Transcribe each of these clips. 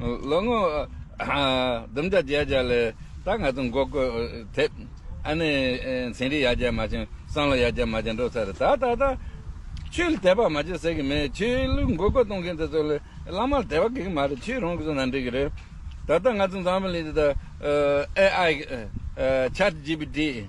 ལོ་ངོ་བདུན་བརྒྱ་བརྒྱད་བརྒྱ་ལས་ད་ང་ཚོ་མགོ་བསྐོར་ཐེབས། ཨ་ནེ་ཚན་རིག་ཡར་རྒྱས་མ་བྱུང་བསམ་བློ་ཡར་རྒྱས་མ་བྱུང་འགྲོ་ཚར་རེད་ད་ད་ད། ཆོས་ལ་དད་པ་མ་བྱེད་ཟེར་གི་མེད་ཆོས་ལུགས་མགོ་བསྐོར་གཏོང་མཁན་དེ་ཚོ་ལ་བླ་མ་ལ་དད་པ་དགོས་ཀྱི་མ་རེད་ཆོས་རང་གིས་བཟོ་ན་འགྲིག་གི་རེད། ད་ལྟ་ང་ཚོ་འཛམ་བུ་གླིང་འདི་དང AI། Chat GPT།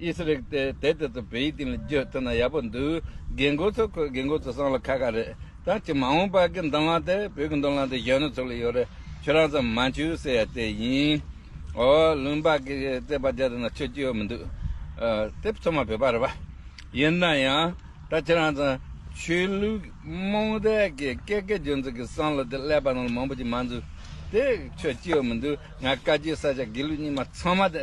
ཨིས་རིག་དེ་དེ་དེ་ཚོ་བོད་ཡིག་སྟེང་ལ་བསྒྱུར་ཐུབ་ན་ཡག་པོ་འདུག་རྒན་རྒོན་ཚོ་ཁོའི་རྒན་རྒོན་ཚོ་སྲང་ལ་ཁ་ཁ་རེད་ད་ཁྱི་མ་འོངས་པ་གི་མདང་ལང་དེ་བོད་ཀྱི་མདོ་ལང་དེ་གཞོན་ནུ་ཚོ་ལ་ཡོད་རེད་ཁྱོད་རང་ཚོ་མ་འཆུ་ཟེར་ཡ་དེ་ཡིན་ཨོ་ལུང་པ་གི་བརྩེ་བ་རྒྱ་དེ་ན་ཆོས་ཅི་ཡོད་མི་འདུག་ཨ་དེ་ཚོ་མ་བོད་པ་རེད་པ་ཡིན་ན་ཡང་ད་ཁྱི་རང་ཚོ་ཆོས་ལུགས་རྨོངས་དད་གི་སྐད་སྐད་རྒྱུན་ཚོ་གི་སྲང་ལ་དེ་སླེབ་པ་ན་ལ་མང་པོ་ཅིག་མ་འཛུགས་དེ་ཆོས་ཅི་ཡོད་མི་འདུག་ང་བཀའ་རྒྱུད་ས་ཆ་དགེ་ལུགས་གཉིས་མ་ཚང་མ་དེ།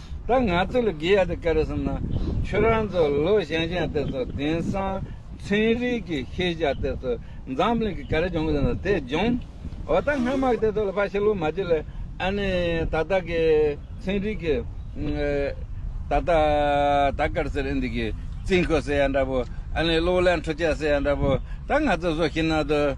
ད་ང་ཚོ་ལ་དགེ་ཡག་དེ་ག་རེ་བསམ་ན། ཁྱོད་རང་ཚོ་ལོ་གཞན་གཞན་དེ་ཚོ་དེང་སང་ཚན་རིག་གི་ཤེས་བྱ་དེ་ཚོ་འཛམ་གླིང་གི་ག་རེ་སྦྱོང་གི་ཡོད་ན་དེ་སྦྱོང། འོ་ད་སྔ་མ་དེ་ཚོ་ལ་ཕ་ཤི་ལོ་མ་རྗེས་ལ་ཨ་ནི་ད་ལྟ་གི་ཚན་རིག་གི་ད་ལྟ་ད་སྐར་ཟེར་ཨིན་དི་གི་རྩིས་འཁོར་ཟེར་ཡ་འདྲ་པོ་ཨ་ནི་གློག་ཀླད་འཕྲུལ་ཆས་ཟེར་ཡ་འདྲ་པོ་ད་ང་ཚོ་བཟོ་ཤི་ན་དུ།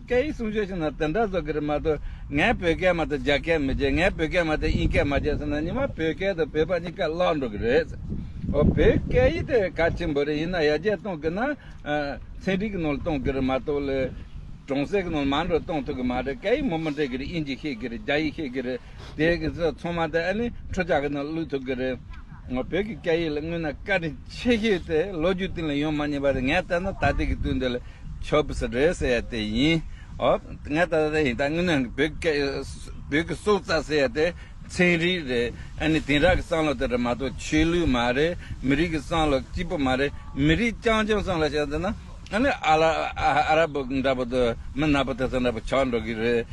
སྐད་ཡིག་སྲུང་སྐྱོབ་བྱེད་ན་དེ་འདྲ་བཟོ་གི་རེད་མ་གཏོགས་ངས་བོད་སྐད་མ་ཐོས་རྒྱ་སྐད་མི་བརྗེད་ངས་བོད་སྐད་མ་ཐོས་དབྱིན་སྐད་མ་བརྗེད་ཟེར་ན་ཉི་མ་བོད་སྐད་དང་བོད་པ་གཉིས་ཀ་བརླག་འགྲོ་གི་རེད། འོ་བོད་སྐད་ཡིག་དེ་གལ་ཆེན་པོ་རེད་ཡིན་ན་ཡར་རྒྱས་གཏོང་གི་ན་ཚན་རིག་གི་ནང་ལ་གཏོང་གི་རེད་མ་གཏོགས་ལས་གྲོང་གསེབ་ཀྱི་ནང་མང་འགྲོ་གཏོང་ཐུབ་གི་མ་རེད་སྐད་ཡིག་མང་པོ་འབྲི་གི་རེད་དབྱིན་ཇི་ཤེས་གི་རེད་རྒྱ་ཡིག་ཤེས་གི་རེད་དེ་གི་ཚོང་མ་དེ་ཨ་ནི་ཁྲོ་ཆགས་ཀྱི་ནང་བླུགས་ཐུབ་གི་རེད། ངོ་བོད་ཀྱི་སྐད་ཡིག་ལ་དངོས་གནས་དཀའ་དྲིན་ཆེ་ཤོས་དེ་ལོ་རྒྱུས་སྟེང་ལ་ཡོང་མ་མྱོང་པ་དེ་ངས་བལྟས་ན་ད་ལྟའི་དུས་འདི་ལ་ཆོ་འབུ་ཟེར་རོལ་ཟེར་ཡ་དེ་ཡིན། འོ། ངས་ད་ལྟ་ཡིན་ད་དངོས་གནས་བོད་ཀྱི་སྐད་ཡིག་བོད་ཀྱི་སྲོག་རྩ་ཟེར་ཡ་དེ་ཚན་རིག་རེད། ཨ་ནི་དེང་རབས་ཀྱི་བསམ་བློ་དེ་རེད་མ་གཏོགས་ཆོས་ལུགས་མ་རེད། མི་རིགས་ཀྱི་བསམ་བློ་གཅིག་པུ་མ་རེད། མི་རིགས་རྐྱང་རྐྱང་བསམ་བློ་བྱས་ཟེར་ན་ཨ་ནི་ཨ་ལ་ཨ་ར་པོ་འདྲ་པོ་དང་མི་ནག་པོ་དེ་ཚོ་འདྲ་པོ་ཆགས་འགྲོ་གི་རེད།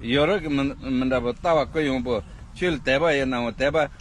ཡོ་རོབ་ཀྱི་མི་མི་འདྲ་པོ་ལྟ་བ་ཀུན་ཡོང་པོ་ཆོས་ལ་དད་པ་ཡི་ནའོ་དད་པ་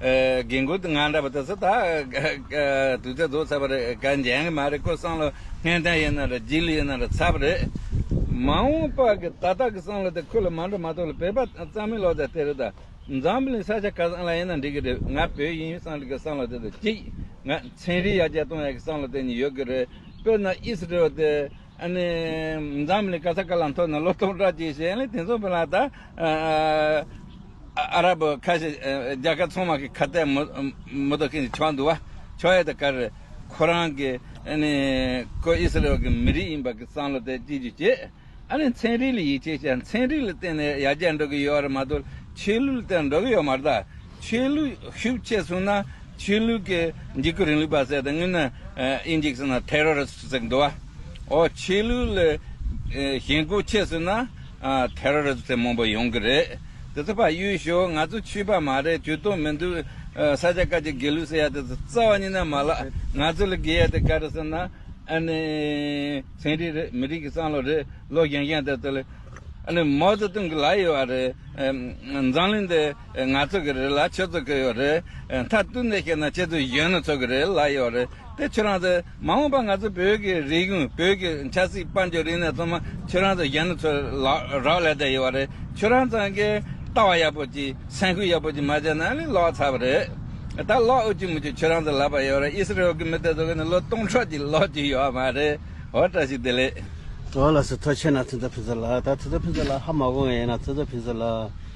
རྒན་ཀུན་དངང་འདྲ་བ་དེ་ཚོ་ད་དུས་ཚོད་རྫོགས་ཚར་བ་རེད་དགའ་འཇན་གི་མ་རེད་ཁོ་སང་ལོ་ཧན་ཐན་ཡིན་ན་རེད་རྗེས་ལུས་ཡིན་ན་རེད་ཚར་བ་རེད། མ་འོངས་པ་གི་ད་ལྟ་གི་སང་ལོ་དེ་ཁོ་ལ་མ་འགྲོ་མ་ཐུག་ལ་བོད་པ་གཙང་མའི་ལོ་ཙཱ་དེ་རེད་ད། འཛམ་བུ་གླིང་ས་ཆ་ག་སང་ལ་ཡིན་ན་འགྲིག་གི་རེད་ང་བོད་ཡིན་ཡུལ་སང་རིག་གི་སང་ལོ་དེ་དུ་གཅིག་ང་ཚན་རིག་ཡ་བརྒྱ་སྟོང་ཡ་གི་སང་ལོ་དེ་ནི་ཡོད་གི་རེད་དཔེར་ན་ཨིས་རེ་ཨོལ་དེ། འཛམ་གླིང་ག་ས་ག་ལ་མཐོ་ནས་ལོ་སྟོང་ཕྲག་གཅིག་བྱས་ནས་དེ་ཚོ་བོད་ལ་ད་ཨ་ར་པོ་ཁ་ཤས་རྒྱ་གར་ཚང་མ་གི་ཁ་གཏད་མོ་ཏོ་ཁེངས་ཆོག་འདུག་བ་ཆོག་ཡ་ད་ག་རེད་ཁོ་རང་གི་ཁོ་ཨི་སི་རེ་ཡོལ་གི་མི་རིགས་ཡིན་པ་གི་བསམ་བློ་དེ་སྐྱེ་རྒྱུ་བྱས་ཨ་ནི་མཚན་རིག་ལ་ཡིད་ཆེས་བྱ་མཚན་རིག་ལ་བརྟེན་ནས་ཡར་རྒྱས་འགྲོ་གི་ཡོད་རེད་མ་ཏོ་ཆོས་ལུགས་ལ་བརྟེན་ནས་འགྲོ་གི་ཡོད་མ་རེད་ད། ཆོས་ལུགས་ཤུགས་ཆེ་བཟུང་ན་ཆོས་ལུགས་ཀྱི་འཇིགས་སྐུལ་རིང་ལུགས་པ་ཟེར་དང་དངོས་ནི Index ན Terrorist ཟེར་གི་འདུག་བ། འོ་ཆོས་ལུགས་ལ་ཞེན་ཁོག་ཆེ་བཟུང་ན Terrorist ཟེར་མང་པོ་ཡོང་གི་རེད། དེ་ཚོ་ཕ་གཡུལ་ཞོག་ང་ཚོ་ཆོས་པ་མ་རེད་ཇུས་གཏོགས་མི་འདུག་ས་ཆ་ཀ་ཅིག་དགེ་ལུགས་ཟེར་ཡ་དེ་ཚོ་རྩ་བ་ཉིད་ན་མ་ལགས་ང་ཚོ་ལ་དགེ་ཡ་དེ་ག་རེད་ཟེར་ན་ཨ་ནི་ཚན་རིག་རེད་མི་རིགས་ཀྱི་བསམ་བློ་རེད་བློ་བཞེངས་བཞེངས་དེ་ཚོ་ལ་ཨ་ནི་མའོ་ཙེ་ཏུང་གི་ལག་ཡོད་བ་རེད་འཛམ་གླིང་འདི། ང་ཚོ་གི་རེད་ལ་ཁྱོད་ཚོ་གི་ཡོད་རེད། མཐར་གཏུག་འདི་ཤེས་ན་ཁྱེད་ཚོ་གཞོན་ནུ་ཚོ་གི་རེད་ལ་ཡོད་རེད་དེ། ཁྱོད་རང་ཚོས་མ་འོངས་པ་ང་ཚོ་བོད་ཀྱི་རིག་གཞུང་བོད་ཀྱི་ཆབ་སྲིད་དཔལ་འབྱོར་རིག་གནས་ཚང་མ་ཁྱོད་རང་ཚོ་གཞོན་ནུ་ཚོས་རག་ལས་དེ་ཡོད་རེད། ཁྱོད་རང་ཚང་གི་ལྟ་བ་ཡག་པོ་ཅིག་སེམས་ཁུར་ཡག་པོ་ཅིག་མ་བྱས་ན་ལས་ལོག་ཚར་བ་རེད། ད་ལོག་འུ་ཅུ་མུ་ཅུ་ཁྱོད་རང་ཚོ་ལབ་པ་ཡོད་རེད་ཨི་སི་རེལ་གྱི་མི་དེ་ཚོ་གི་ནི་ལོ་སྟོང་ཕྲག་ཅིག་ལོག་གྱི་ཡོད་བ་མ་རེད། འོ་བཀྲ་ཤིས་བདེ་ལེགས། ཟླ་བ་ལགས་སུ་ཐོ་ཆེ་ན་ཐུ་ཚ་ཕི་ཚ་ལགས་ད་ཐུ་ཚ་ཕི་ཚ་ལགས་ཧ་མ་གོ་ངེས་ཡིན་ན་ཐུ་ཚ་ཕི་ཚ་ལགས།